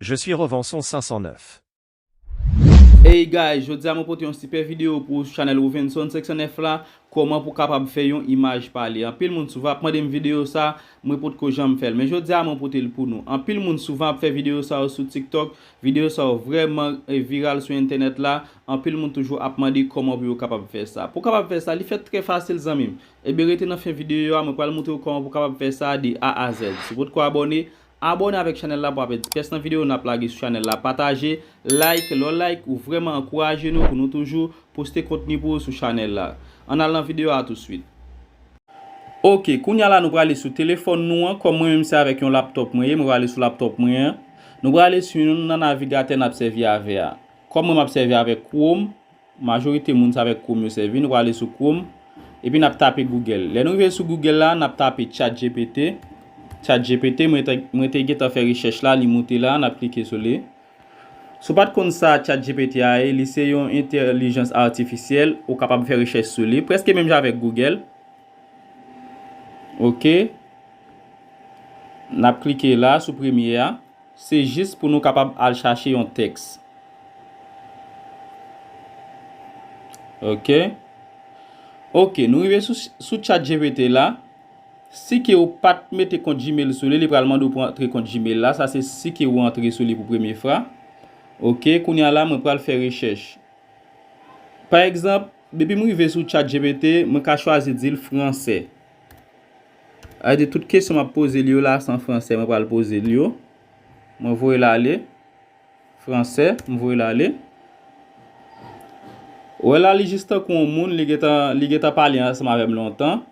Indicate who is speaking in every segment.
Speaker 1: Je suis Rovenson 509.
Speaker 2: Hey guys jodia mwen pote yon sipè video pou chanèl Rovenson 509 la kòman pou kapab fè yon imaj pale anpil moun souvan ap mandem video sa mwen potko janm fèl men jodia mwen potel pou nou anpil moun souvan ap fè video sa yo sou tiktok video sa yo vrèman viral sou entènèt la anpil moun toujou ap mande kòman pou yo kapab fè sa pou kapab fè sa li fèt trè fasil zanmim ebyen rete nan fen video a mwen pral moutre ou kòman pou kapab fè sa de A a Z si w potko abòne Abone avèk chanèl la pou pa pèdi pyès nan video nap lage sou chanèl la pataje, like, lè w like ou vrèman ankouraje nou pou nou toujou poste kontni pou ou sou chanèl la. Ann al nan video a touswit. Ok kounya la nou prale sou telefòn nou an kòm mwen menm se avèk yon laptop mwen ye mwen prale sou laptop mwen an nou prale sou yon nan navigatè nap sèvi avè a kòm mwen map sèvi avèk chrome Majorite moun sa avèk Chrome yo sèvi, nou prale sou Chrome, epi nap tape Google. Lè nou rive sou Google la, nap tape chatgpt, Chat GPT, mwen te mwen te gentan fè rechèch la, li moute la, nap klike sou li. Si w pat konn sa chatgpt a ye, li se yon entèlijans atifisyèl, ou kapab fè rechèch sou li, prèske menm jan avèk Google. Ok. Nap klike la sou premye a. Se jis pou nou kapab al chache yon tèks. Ok. Ok, nou rive sou chatgpt la. Si ke ou pat mete kont gmail sou li, li pral mande ou pou antre kont gmail la. Sa se si ke ou antre sou li pou premye fra. Ok, kounye a la mwen pral fè rechèch. Pa egzanp, depi m rive sou chatgpt, mwen ka chwazi di l franse. Sa vle di tout kesyon m ap poze li yo la se an fransè mwen pral poze li yo. Mwen voye l ale. Fransè, m voye l ale. Ou wè la li jis tankou yon moun li gen tan pale ansanm avè m lontan.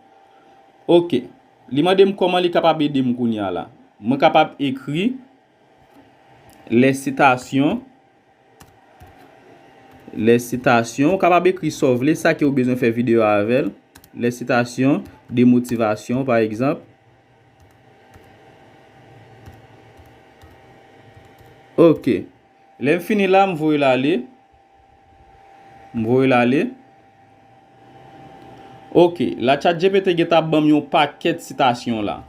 Speaker 2: Ok. Li mande m kòman li kapab ede m kounya la. Mwen kapab ekri Lè sitasyon Lè sitasyon Ou kapab ekri sa w vle, sa ke ou bezwen fè videyo a avè l. Lè sitasyon de motivasyon pa egzanp. Ok. Lè m fini la, m voye l ale. M voye l ale. Ok la chatgpt gen ta banm yon pakèt sitasyon la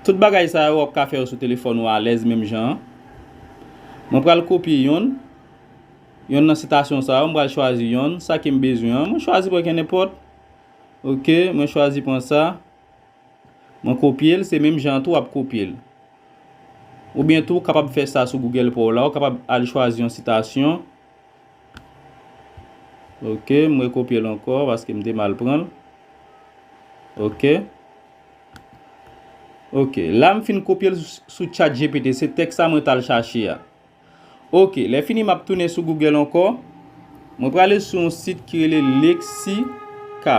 Speaker 2: Tout bagay sa yo wap ka fè yo sou telefòn ou alèz menm jan an Mwen pral kopye yonn Yonn nan sitasyon sa yo m pral chwazi yonn sa kem bezwen an mwen chwazi pran kennenpòt Ok mwen chwazi pran sa Mwen kopye l se menm jan an tou wap kopye l Oubyen tou kapab fè sa sou Google pa w la ou kapab al chwazi yon sitasyon Ok m rekopye l ankò paske m te mal pran l. Ok. Ok la m fin kopye l sou chat GPT se tèks sa mwen t al chache a. Ok lè fini m ap tounen sou Google ankò. Mwen prale sou yon sit ki rele Lexica.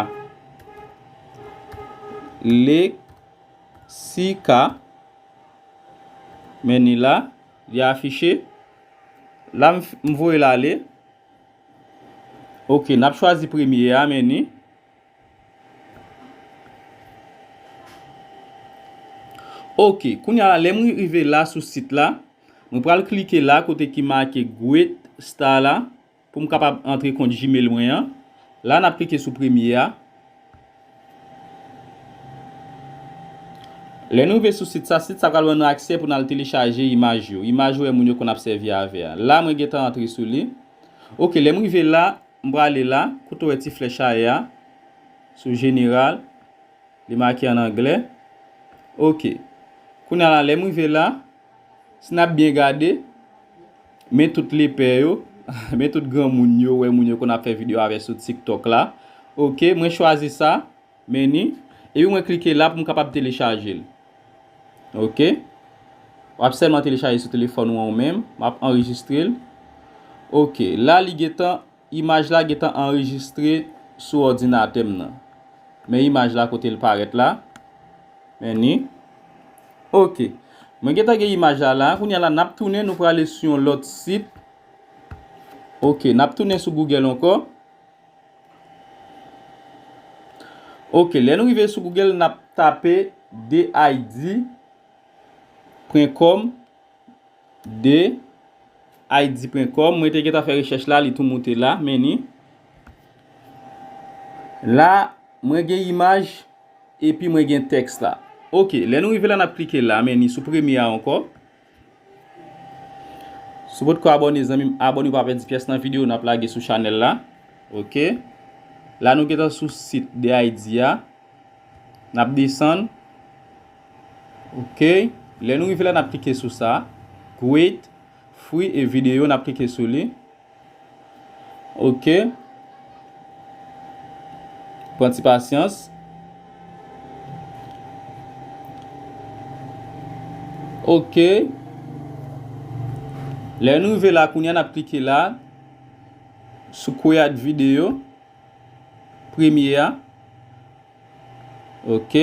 Speaker 2: Lexica. Men ni la. Li afiche. La m m voye l ale. Ok, n ap chwazi premye a, meni. Ok, kounye a la, lè m rive la sou sit la, mwen pral klike la kote ki make Great Star la. Pou m kapab antre kont Gmail mwen an, la n ap klike sou premye a. Lè nou rive sou sit sa, sit sa pral ban nou aksè pou n al telechaje imaj yo, imaj ou wè moun yo konn ap sèvi avè a. La mwen gentan antre sou li. Ok, lè m rive la, m prale la, kote ou wè ti flèch aè a, sou General, li make an anglè. Ok. Kounya la, lè m rive la. Si n ap byen gade, men tout lepè yo, men tout granmoun yo wè moun yo konn ap fè videyo avè sou TikTok la. Ok, mwen chwazi sa, Menu, epi mwen klike la pou m kapab telechaje l. Ok, w ap sèlman telechaje sou telefòn ou an ou menm, m ap anrejistre l. Ok, la li gentan. Imaj la gentan anrejistre sou òdinatè m nan. Men imaj la kote l parèt la. Men ni. Ok. Mwen gentan gen imaj la la. Kounye a la n ap tounen nou prale sou yon lòt sit. Ok. N ap tounen sou Google ankò. Ok. Lè nou rive sou Google n ap tape DID. Pwen kòm. de Haiti-print-com mwen te gentan fè rechèch la li tou moute la meni la mwen gen imaj epi mwen gen tèks la ok lè nou rive la nap klike la meni sou premye a ankò si w potko abòne zanmim abòne pou w pa pèdi pyès nan video nap lage sou chanèl la ok la nou gentan sou sit de Haiti a. Nap desann. Ok. Lè nou rive la nap klike sou sa. Great. Free e video nap klike sou li. Ok. Pran ti pasyans. Ok. Lè nou rive la kounye a nap klike la. Sou create video. Premye a. Ok.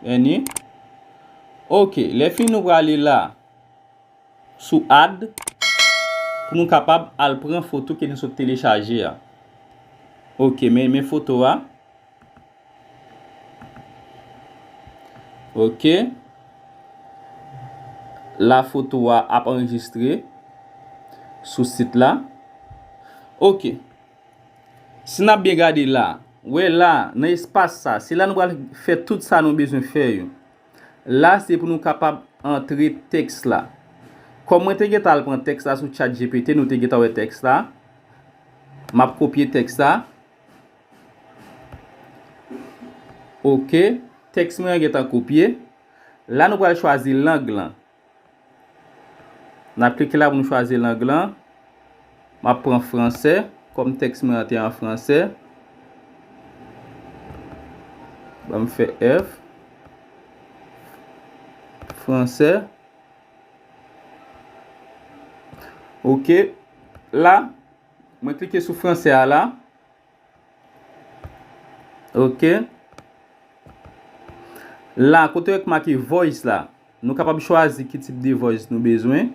Speaker 2: Vèni. Ok. Lè fini nou prale la. Sou add. Pou nou kapab al pran foto ke nou sot telechaje a. Ok. Men men foto a. Ok. La foto a ap enregistre. Sou sit la. Ok. Si n ap byen gade la, wè la, nan espas sa, se la nou pral fè tout sa nou bezwen fè yo. La se pou nou kapab antre tèks la. Kòm mwen te gentan al pran tèks la sou chatgpt nou te gentan wè tèks la. M ap kopye tèks la. Ok, tèks mwen an gentan kopye. La nou pral chwazi lang lan. Nap klike la pou nou chwazi lang lan. Map pran franse, kom teks mwen an te an franse. Banm fe F. Franse. Ok. La, mwen klike sou franse a la. Ok La kote yo k make voice la Nou kapab chwazi ki tip de voice nou bezwen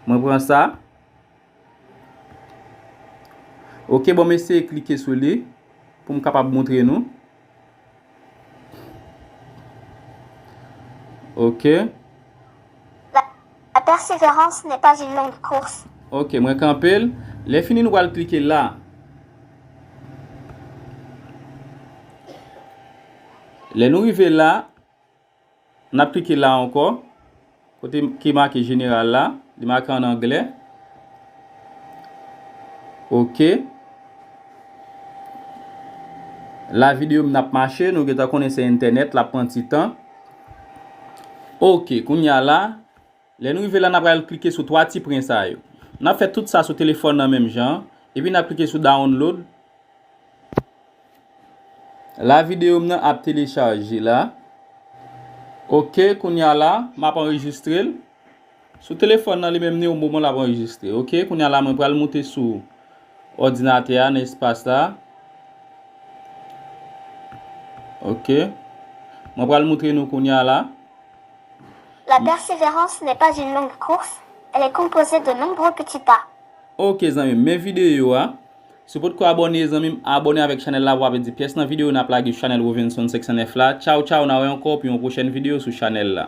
Speaker 2: Mwen pran sa Ok bon m eseye klike sou li Pou m kapab montre nou Ok.
Speaker 3: La perseverance n'est pas une longue course. Ok, mwen kanpe
Speaker 2: l. Lè fini nou pral klike la. Lè nou rive la. N ap klike la ankò, kote ki make Jeneral la, li make an anglè. Ok. La videyo m nan ap mache, nou gentan konnen se entènèt, l ap pran ti tan. Ok, kounye a la. Lè n rive la n ap pral klike sou 3 ti pwen sa yo. N ap fè tout sa sou telefòn nan menm jan an, epi n ap klike sou Download la videyo m nan ap telechaje la ok kounye a la m ap anrejistre l sou telefòn nan li menm ni o moman l ap anrejistre ok kounye a la mwen pral moute sou òdinatè a nan espas la ok mwen pral moutre nou kounye a la.
Speaker 3: La perseverance n'est pas une longue course, elle est composée de nombreux petits pas. Ok zanmim
Speaker 2: men video a. Si w potko abòne zanmim abòne avèk chanèl la pou pa pèdi pyès nan video nap lage sou chanèl Rovenson 509 la tchaw tchaw na wè ankò pou yon pwochèn video sou chanèl la.